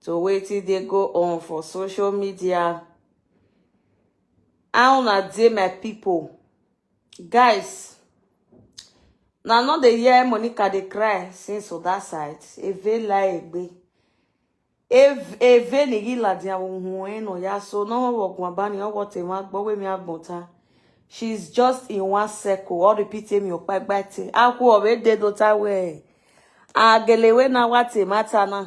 to wetin dey go on for social media how una dey my people guys na no dey hear monica dey cry since on that side eve la egbe Ev- eve ni yila dia ohun eno ya so no one work one bani owo te ma gbo we mi agbonta she's just in one circle all repeat me opa gba te aku ore de do ta we agelewe na wa te mata na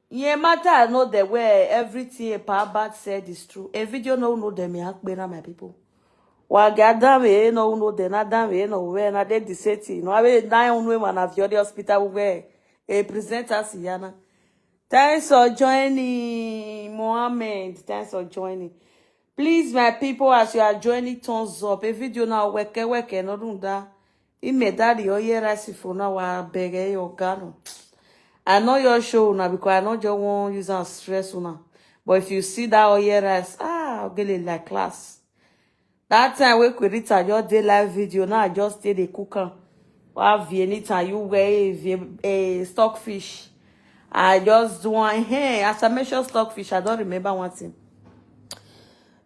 Nye matter no the way everything about bad said is true. A video no no them yak bena my people. Wa gadan we no no the na dan we no we na de the city. No we na un we man of your hospital we a present us yana. Thanks for joining Mohammed. Thanks for joining. Please my people as you are joining thumbs up. A video now weke weke no do that. Imedari oye rice for now I beg eh, your gano. I know your show now because I know just want use and stress now. But if you see that oye rice, ah, I'll get it like class. That time we could reach your day live video. Now I just stay the cooker. Wow, anytime you wear a stockfish. I just do one hey, as I mentioned stockfish, I don't remember one thing.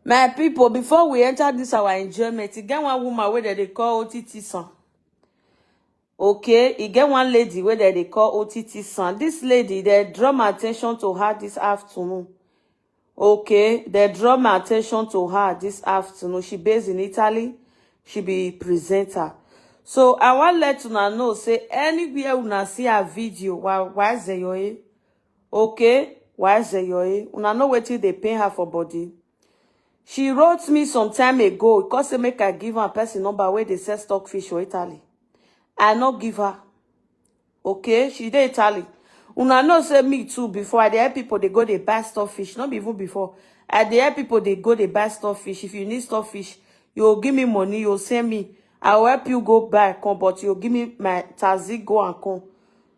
My people, before we enter this our enjoyment, e get one woman where they call OTT son. Okay, e get one lady where they call OTT son. This lady, they draw my attention to her this afternoon. Okay, they draw my attention to her this afternoon. She based in Italy. She be presenter. So I want let una know, say anywhere una see her video, why why is there your Okay, why Zeyoe? Una know wetin dey pain her for body. She wrote me some time ago, because say make I give her a person number where they sell stockfish for Italy. I no give her. Okay, she dey Italy. Una know say me too, before I dey help people, they go they buy stockfish. Not even before. I dey help people, they go they buy stockfish. If you need stockfish, you'll give me money, you'll send me. I'll help you go buy, come, but you'll give me my taxi, go and come.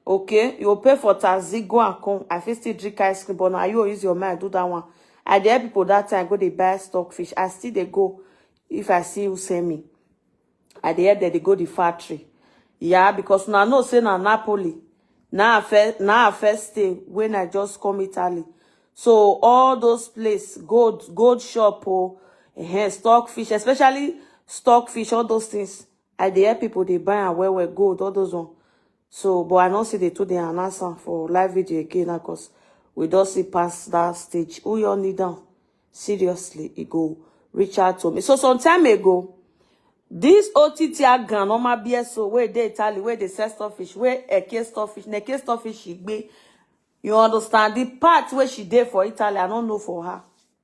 okay you pay for taxi go and come i fit still drink ice cream but now you use your mind do that one i dey help people that time go dey buy stock fish i still dey go if i see you send me i dey help dem dey go the factory yeah because now no say na napoli now i first now i first stay when i just come italy so all those place gold gold shop oh uh, stock fish especially stock fish all those things I dey help people dey buy am well well gold all those one. So but I no see the two dey announce am for live video again now cause we don see pass that stage. Who y'all need am? Seriously, e go reach out to me. So some time ago, this OTT agan normal BSO wey dey Italy wey dey sell stockfish wey Eke stockfish, Neke stockfish she gbe. You understand the part where she dey for Italy? I don't know for her.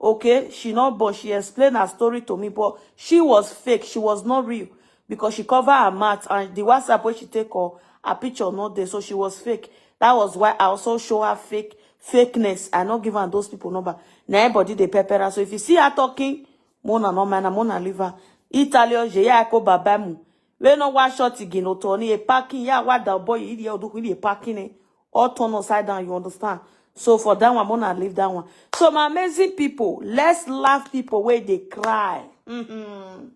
okay she no but she explained her story to me but she was fake she was not real because she covered her mouth and the whatsapp where she take her her picture not there so she was fake that was why i also show her fake fakeness i not give her those people number na everybody dey pepper her so if you see her talking mona no man mona live her italian je ya ko babamu We no wa short again o to ni e parking ya wa da boy ili e oduku ili e parking e all turn upside down you understand so for that one mona leave that one so my amazing people let's laugh people where they cry mm-hmm.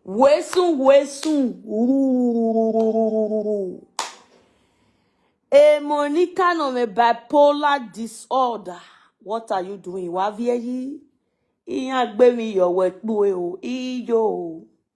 way soon way soon Ooh. a monica no me bipolar disorder what are you doing wa vie yi iyan gbe mi yo we po e o iyo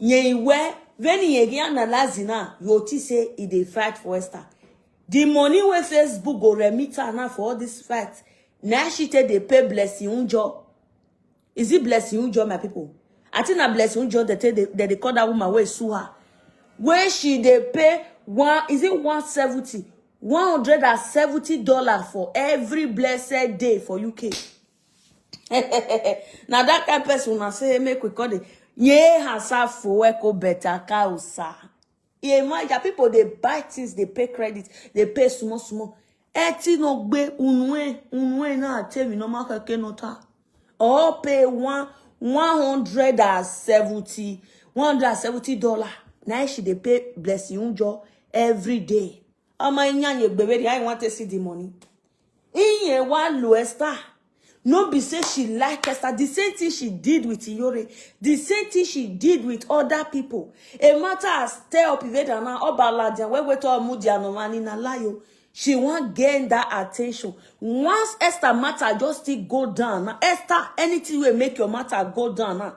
Nyewe, when Yegi analyze now, you see say he dey fight for Esther. The money where Facebook go remit her now for all this fight. Now she take dey pay Blessing Unjo. Is it Blessing Unjo, my people? I think na Blessing Unjo that they, that they call that woman where sue her. Where she dey pay one, is it 170? 170 dollar for every blessed day for UK. na that kind person una say make we call the ye herself for echo better cow sir ye maja people dey buy things dey pay credit dey pay small small eti no gbe unwe unwe na tell me no ma keke no ta all pay one one hundred and seventy one hundred and seventy dollar na she dey pay blessing unjo every day ọmọ iyan ye gbere i want to see the money Iye wa lo Esther. No be say she like Esther. The same thing she did with Iyore. The same thing she did with other people. A matter as tell Piveda na Obaladian wey wait all Mudia no man in a lie. o. She wan gain that attention. Once Esther matter just still go down. Now Esther, anything wey make your matter go down now.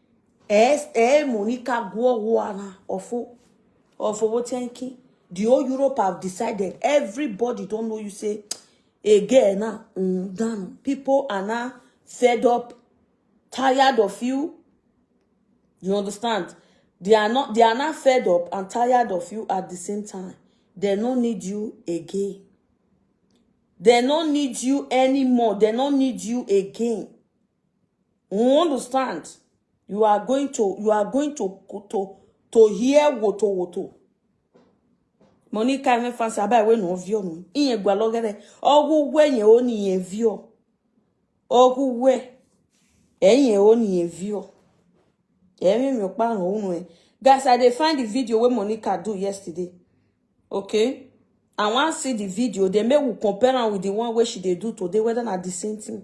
ẹ mú ní ká gbọ́ ọwọ́ ara ọ̀fọ́ ọ̀fọ́ owó tí ẹ ń kí the whole Europe have decided everybody don know you say again na mm, dan people are now fed up tired of you you understand they are not they are now fed up and tired of you at the same time they no need you again they no need you anymore they no need you again You understand? You are going to you are going to to to hear woto woto. Money can't even fancy about when no view no. In a gualogere. Ogu we ye oni ye view. Ogu we. Enye oni ye view. Emi mi okpa no unu e. Guys, I dey find the video where Monica do yesterday. Okay? I want see the video. Then make we compare am with the one where she dey do today, whether na the same thing.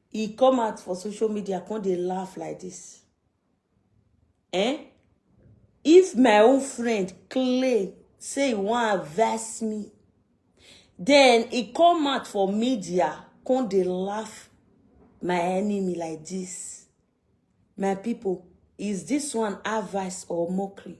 He come out for social media, come they laugh like this. Eh? If my own friend Clay say he want verse me, then he come out for media, come they laugh my enemy like this. My people, is this one advice or mockery?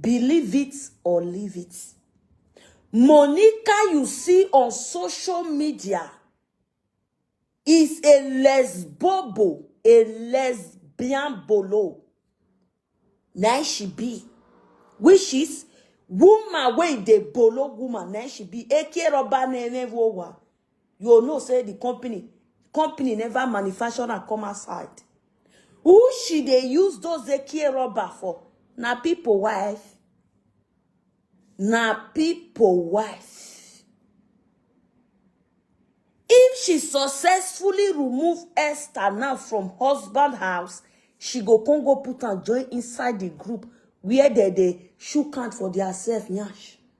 Believe it or leave it. Monica you see on social media is a lesbobo, a lesbian bolo. Now she be. Which is woman wey dey bolo woman na she be eke roba na enevowa you will know say the company company never manufacture and come outside who she they use those ekie rubber for Now people wife Now people wife if she successfully remove esther now from husband house she go come go put and join inside the group where they they shook hand for their self yash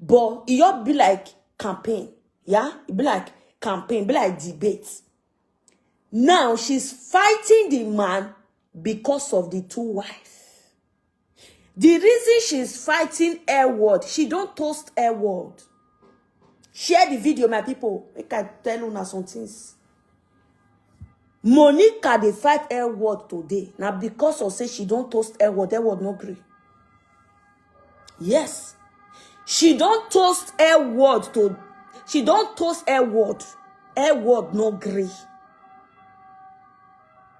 but e just be like campaign yeah e be like campaign e be like debate now she's fighting the man because of the two wives the reason she's fighting air word she don't toast air word share the video my people make i tell una some things monica dey fight air word today na because of say she don toast air word air word no gree yes she don toast air word to she don toast air word air word no gree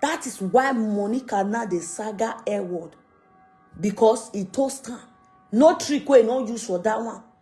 that is why monica now dey saga air word because e toast am no trick wey e no use for that one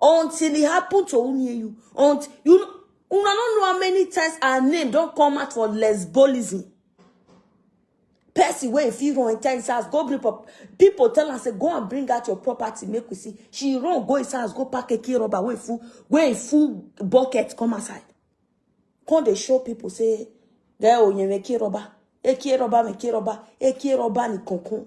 until it happened to who near you. Until you know, una don't know how many times our name don't come out for lesbolism. Person where if you run enter his house, go bring up. People tell us, say, go and bring out your property, make we see. She run, go his house, go pack a key rubber, where full, where full bucket come aside. Come they show people, say, there, oh, you make key rubber. Eki rubber, make key rubber. Eki rubber, ni concon.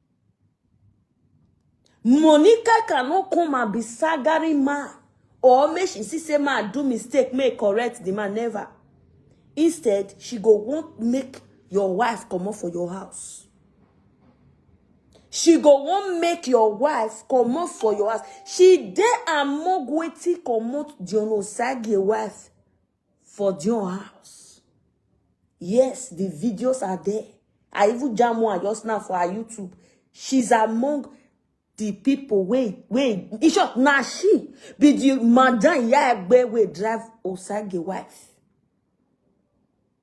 Monica cannot come and be sagaring man or make she see say man do mistake, make correct the man, never. Instead, she go want make your wife come up for your house. She go want make your wife come up for your house. She dey among wetin comot John Osagie wife for Dion house. Yes, the videos are there. I even jam one just now for her YouTube. She's among the people wey wey in short na she be the madam iya egbe wey drive Osage wife.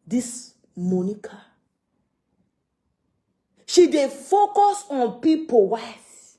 This Monica. She dey focus on people wife.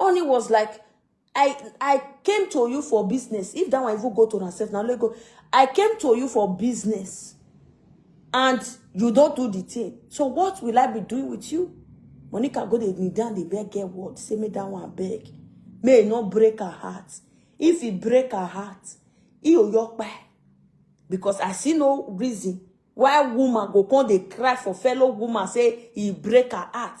Oni was like, I I came to you for business. If that one even go to herself, now let go. I came to you for business. And you don't do the thing. So what will I be doing with you? Monica go dey kneel down, dey beg get word. Say me that one beg. May it not break her heart. If it break her heart, he will yok by. Because I see no reason why woman go come dey cry for fellow woman say he break her heart.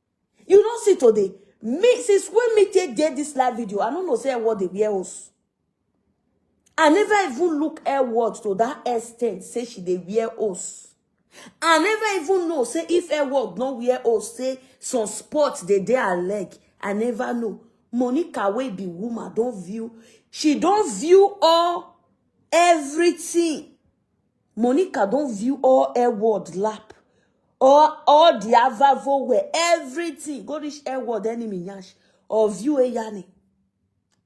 You don't see today. Me, since when me take did this live video, I don't know say what they wear us. I never even look her words to that extent, say she they wear us. I never even know, say if her word no wear us, say some sports they they are leg. I never know. Monica wey be woman don't view. She don't view all everything. Monica don view all air world lap, all all the avavo where everything go reach air world enemy yansh or view a yanni.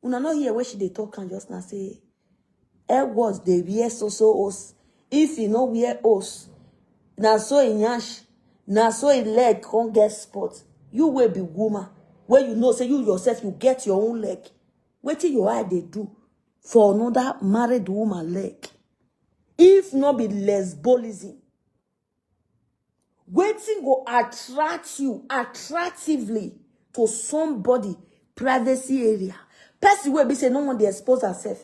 Una no hear where she dey talk and just now say air world they wear so so os. If he no wear os, na so he yansh, na so he leg can't get spot. You will be woman where you know say you yourself you get your own leg. Wait till your eye they do. for another married woman leg if not be lesbolism Waiting go attract you attractively to somebody privacy area person will be say no one dey expose herself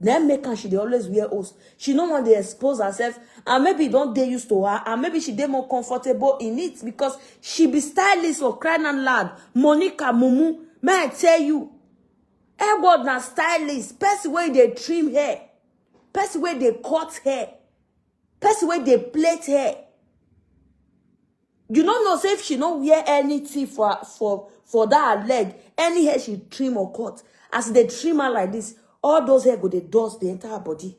na make am she dey always wear host she no wan dey expose herself and maybe e don dey used to her and maybe she dey more comfortable in it because she be stylist for crying out loud monica mumu may i tell you Hair god na stylist, person wey dey trim hair, person wey dey cut hair, person wey dey plait hair. You no know say if she no wear anything for her- for for that her leg, any hair she trim or cut, as e dey trim am like this, all those hair go dey dust dey enter her body.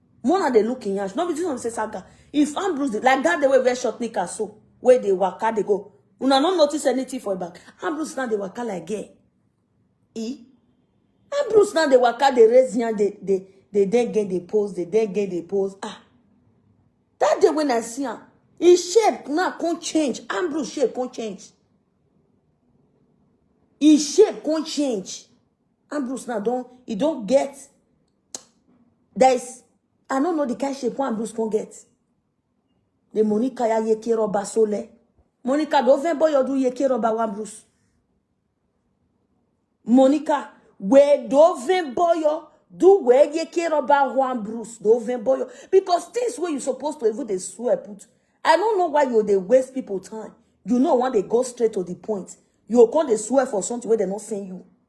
Mona dey look in yansh. No be this one say saga. If Ambrose dey, like that day wey wear short knicker so, wey dey waka dey go. Una no notice anything for back. Ambrose now dey waka like gay. E. Ambrose now dey waka dey raise yan dey dey dey then get the pose dey then get the pose ah. That day when I see am, him shape now come change. Ambrose shape come change. His shape come change. Ambrose now don he don get there is i no know the kind shape one blues con get the monica ya yeke roba sole monica do ven boy odu yeke roba one blues monica we do ven boy do we yeke roba one blues do ven boy because things wey you supposed to even dey swear put i no know why you dey waste people time you know when they go straight to the point you go come dey swear for something wey dem no send you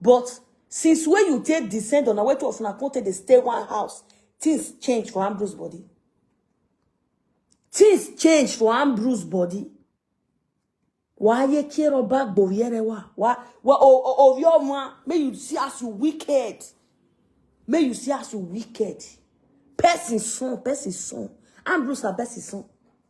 But since when you take descend on a way to us, come take the stay one house, things change for Ambrose body. Things change for Ambrose body. Why you care about Boviere? Why? Well, oh, oh, oh, your man, may you see us you wicked. May you see us you wicked. Person son, person son. Ambrose na person son.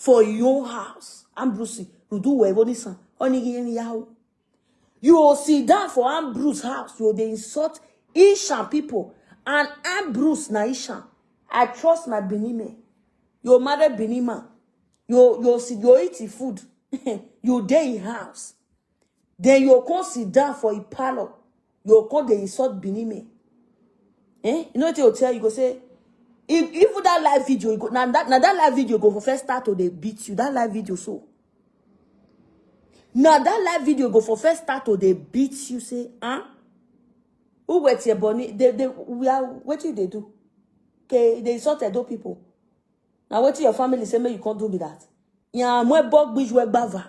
for your house Ambrose rudu wee boni san oni gi ni yawo you go sit down for Ambrose house you go dey insult Ishan people and Ambrose na Ishan I trust my Benin men your mother Benin man you you sit you eat the food you dey in house Then you come sit down for a parlor. You come they insult Benin men. Eh? You know what you tell you go say if even that live video you go now that now that live video go for first start to they beat you that live video so now that live video go for first start to they beat you say huh who wet your bunny they they we are what do they do okay they insult those people now what your family say me you can't do me that yeah my bug bitch we bava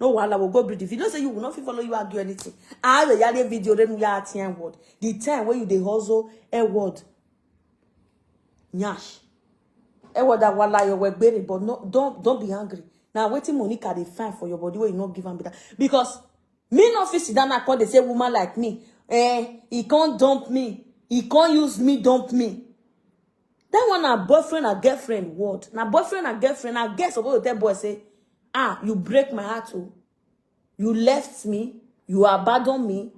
No wahala, we'll go build the video. Say you will not fit follow you argue anything. I have a yale video, then we are ten word. The time where you dey hustle, a word. Nyash. A word that wala your work berry, but no, don't don't be angry. Now waiting Monica they find for your body where you not give am better. Because me no fit sit down and call they say woman like me. Eh, he can't dump me. He can't use me, dump me. That one na boyfriend and girlfriend word. Na boyfriend and girlfriend. Na girl suppose to tell boy say, ah, you break my heart oh. You left me. You abandon me.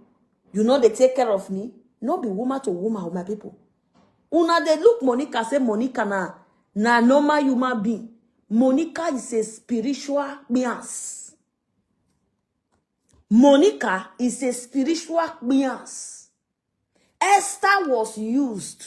You know they take care of me. No be woman to woman, oh, my people. Una dey look Monica say Monica na na normal human being. Monica is a spiritual beans. Monica is a spiritual beans. Esther was used.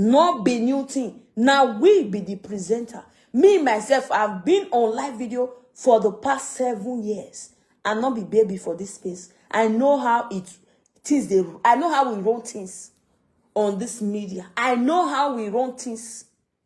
No be new thing. Now we be the presenter. Me, myself, I've been on live video for the past seven years. I not be baby for this space. I know how it things they I know how we run things on this media. I know how we run things.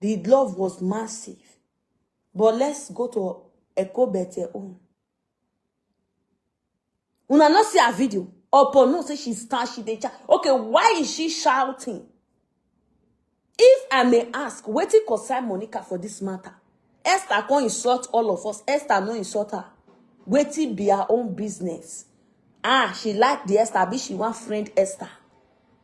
The love was massive. But let's go to Eko Bete own. Una not see her video. Opo no say she start, she dey chat. Okay, why is she shouting? If I may ask, wetin concern Monica for this matter? Esther come insult all of us. Esther no insult her. Wetin be her own business? Ah, she like the Esther, abi she wan friend Esther.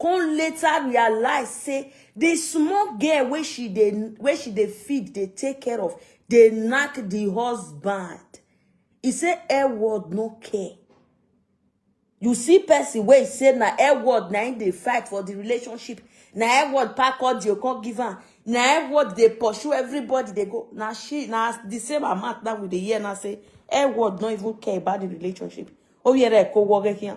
come later realize say the small girl wey she dey wey she dey feed dey take care of dey knack the husband e say air world no care you see person wey say na air world na im dey fight for the relationship na air world pack all the okon give am na air world dey pursue everybody dey go na she na the same amount that we dey hear now say air world no even care about the relationship ó yẹra ẹ̀ kó wọrẹ́ híàn.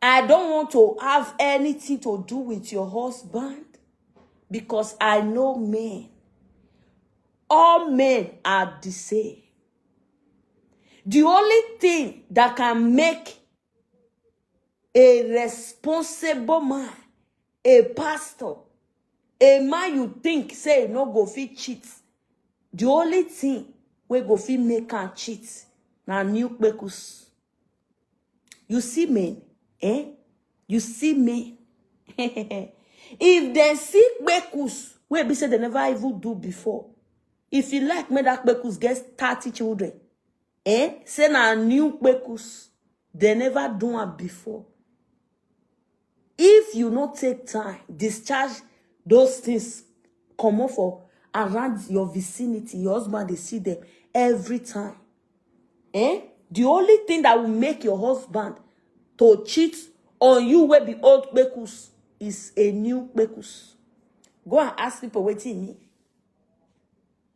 I don't want to have anything to do with your husband because I know men. All men are the same. The only thing that can make a responsible man, a pastor, a man you think say no go fit cheat, the only thing we go fit make am cheat na new kpekus. you see me eh you see me if dem see kpekus wey be say dem never even do before if you like make that kpekus get thirty children eh say na new kpekus dem never do am before if you no take time discharge those things comot for around your vicinity your husband dey see them every time eh the only thing that will make your husband to cheat on you wey be old kpekus is a new kpekus go and ask people wetin e mean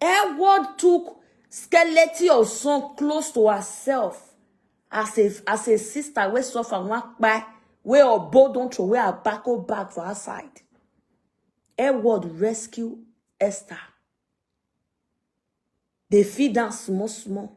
Edward took skeleton of son close to herself as a as a sister wey suffer one kpai wey obo don throw away her backo bag for outside. Edward rescue Esther. Dey feed am small small.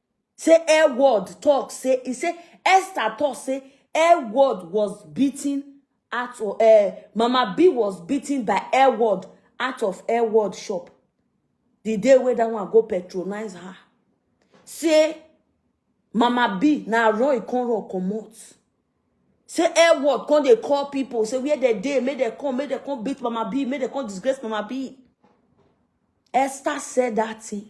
Say air word talk say he say Esther talk say air word was beaten out of uh, Mama B was beaten by air word out of air word shop. The day where that one go patronize her. Say Mama B na Roy con rock comot. Say air word con they call people. Say where they day make they come make they come beat Mama B make they come disgrace Mama B. Esther said that thing.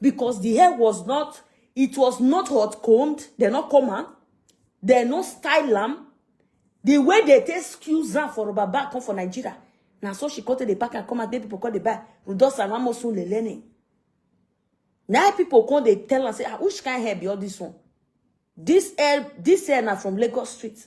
because the hair was not it was not hot combed dem no comb am dem no style am the way they take excuse am for rubber bag come for nigeria na so she come take dey pack am come out make people come dey buy udosa and amosun le learning na people come dey tell am say ah which kind hair be all this one this hair this hair na from lagos street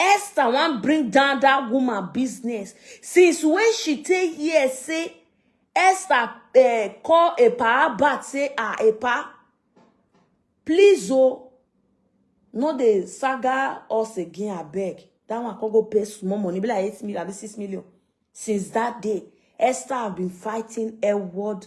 esther wan bring down dat woman business since wey she take hear say esther eh, call epa bad say ah epa please o no dey saga us again abeg dat one come go pay small money be like eight million abi six million since dat day esther have been fighting edward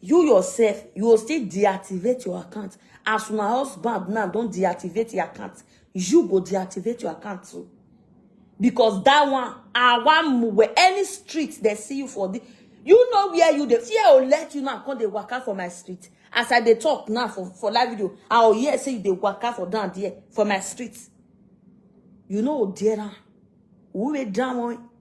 you yourself you go still deactivate your account as una husband now don deactivate your account you go deactivate your account too because that one our one where any street they see you for the you know where you dey fear will let you now come dey waka for my street as i dey talk now for for live video i go hear say you dey waka for down there for my street you know there am who wey down one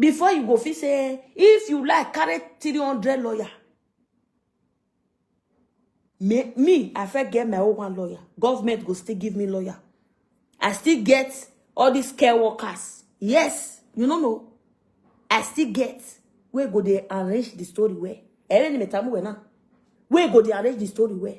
before you go fit say if you like carry 300 lawyer me, me i fit get my own one lawyer government go still give me lawyer i still get all these care workers yes you no know i still get wey go dey arrange the story well ẹrẹ ni mẹta mú wẹ náà wey go dey arrange the story well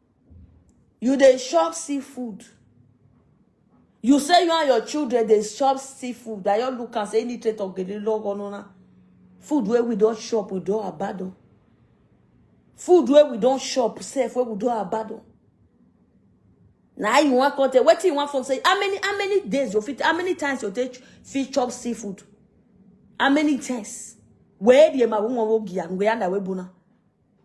You dey chop seafood. You say you and your children dey chop seafood. I just look and say any trait of gele log onona. Food where we don't chop, we don't abandon. Food where we don't chop, safe where we don't abandon. Now you want content. What you want from say how many how many days you fit how many times you take fit chop seafood? How many times? Where the ma wo wo gi an we ana we bona.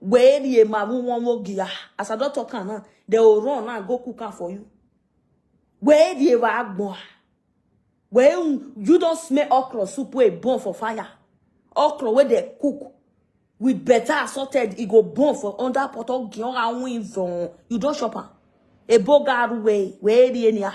Where ye ma won won wo gia. As I don't talk am now, they will run now and go cook am for you. Where ye wa agbo. Where you you don't smell okra soup wey burn for fire. Okra where they cook with better assorted, it go burn for under pot of gion and win You don't shop am. Ebo garu way, where ye ni ah.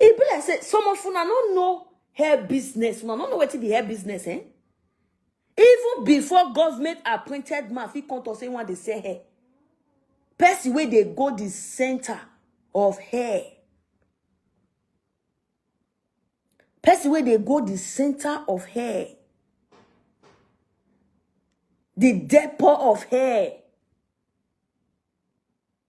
e be like say some of una no know hair business una no know wetin be hair business eh even before government appointed man fit come talk say one dey sell hair person wey dey go the center of hair person wey dey go the center of hair the depot of hair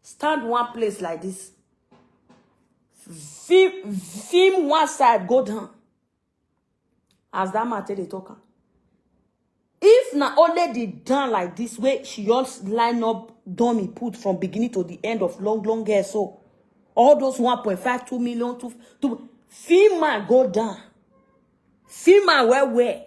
stand one place like this film film one side go down as that man take dey talk am if na only the down like this way she just line up dummy put from beginning to the end of long long hair so all those 1.5 2 million to to film man go down film man well well